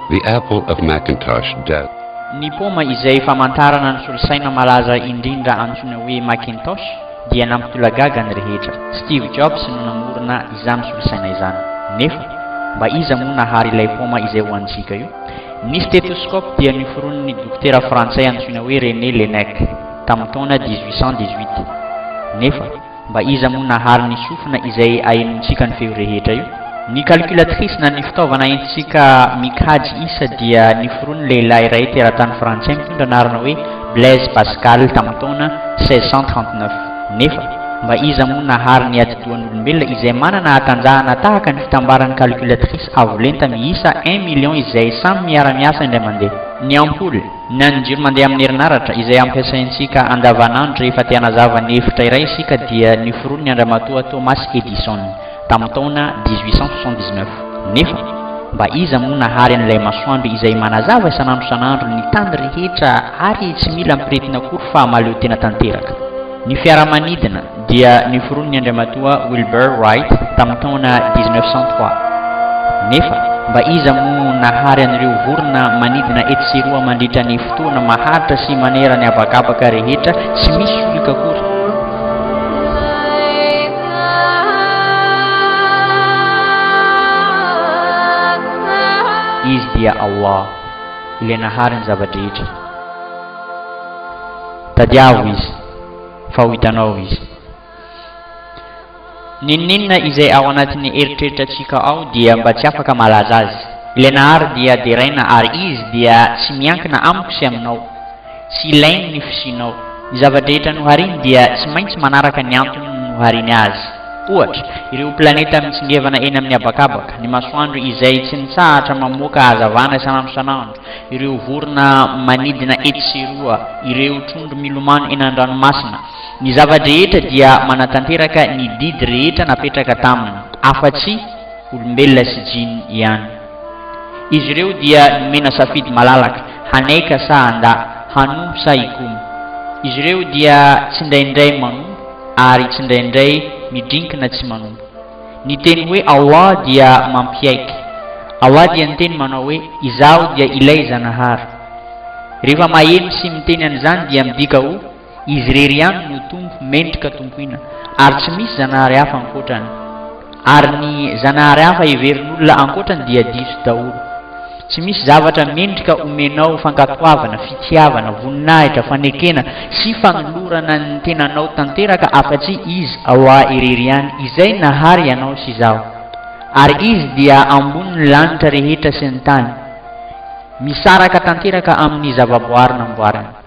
The apple of Macintosh death. Ny paoma izay famantarana ny solosaina malaza indrindra antsoina hoe Macintosh. dia nampitolagaga ny rehetra. Steve Jobs no namorona izany solosaina izany. Nefa, mba iza moa nahary ilay paoma izay ho antsika io? Ny stethoskop dia noforonin'ny dokotera frantsay antsoina hoe René Laennec, tamin'ny taona 1818. Nefa, mba iza moa nahary ny sofina izay ahenoantsika ny feo rehetra io? Ny calculatrice na ny fitaovana entintsika mikajy isa dia noforonin'ny lehilahy iray teratany frantsay mitondra anarana hoe Blaise Pascal tamin'ny taona 1639. Nefa, mba iza moa nahary ny atidohan'olombelona izay manana hatanjahana tahaka ny fitambaran'ny calculatrice avo lenta miisa un million izay samy miara-miasa indray mandeha? Ny ampoule, na ny jiro mandeha amin'ny herinaratra, izay ampiasaintsika andavanandro rehefa te-hanazava ny efitra iray isika dia noforoniny an-dramatoa Thomas Edison. tamin'ny taona 1879. Nefa mba iza moa nahary an'ilay masoandro izay manazava isan'andro isan'andro ny tany rehetra ary tsy mila ampiretina akory fa mahaleo tena tanteraka? Ny fiaramanidina dia niforonin'i Andriamatoa Wilbur Wright tamin'ny taona 1903. Nefa mba iza moa nahary an'ireo vorona manidina etsy sy eroa mandritra ny fotoana maharitra sy manera ny habakabaka rehetra tsy misy solika akory? Izy dia Allah, Ilay Nahary ny zava-drehetra. Tadiavo Izy, fa ho hitanao Izy. N'inon'inona izay ao anatin'ny eritreritrantsika ao dia mba tsy afaka malaza azy. Ilay Nahary dia deraina ary Izy dia tsy miankina amiko sy aminao. Tsy ilainy ny fisianao. Ny zava-drehetra nohariny dia tsy maintsy manaraka ny antony nohariny azy. Ohatra, ireo planeta mitsingevana eny amin'ny habakabaka, ny masoandro izay tsy mitsahatra mamoaka hazavana isan'andro isan'andro, ireo vorona manidina etsy sy eroa, ireo trondro milomano eny an-dranomasina. Ny zava-drehetra dia manatanteraka ny didy rehetra napetraka taminy, afa-tsy olombelona sy jiny ihany. Izy ireo dia nomena safidy malalaka, haneka sa handà, hanompo sa hikomy. Izy ireo dia tsindraindray manompo ary tsindraindray midrinkina tsy manompo. Ny teny hoe Allah dia mampiaiky. Allah dia niteny manao hoe, Izaho dia Ilay Zanahary. Rehefa maheno sy miteny an'izany dia midika ho. Izy irery ihany no Tompo mendrika tompoina, ary tsy misy zanahary hafa ankoatrany. Ary ny zanahary hafa heverin'olona ankoatrany dia diso daholo. Tsy misy zavatra mendrika homenao fankatoavana, fitiavana, voninahitra, fanekena sy fanolorana ny tenanao tanteraka afa-tsy Izy ao Ahy irery ihany, Izay nahary ianao sy izaho. Ary Izy dia ambonin'ny lanitra rehetra sy ny tany, misaraka tanteraka amin'ny zavaboary namboariny.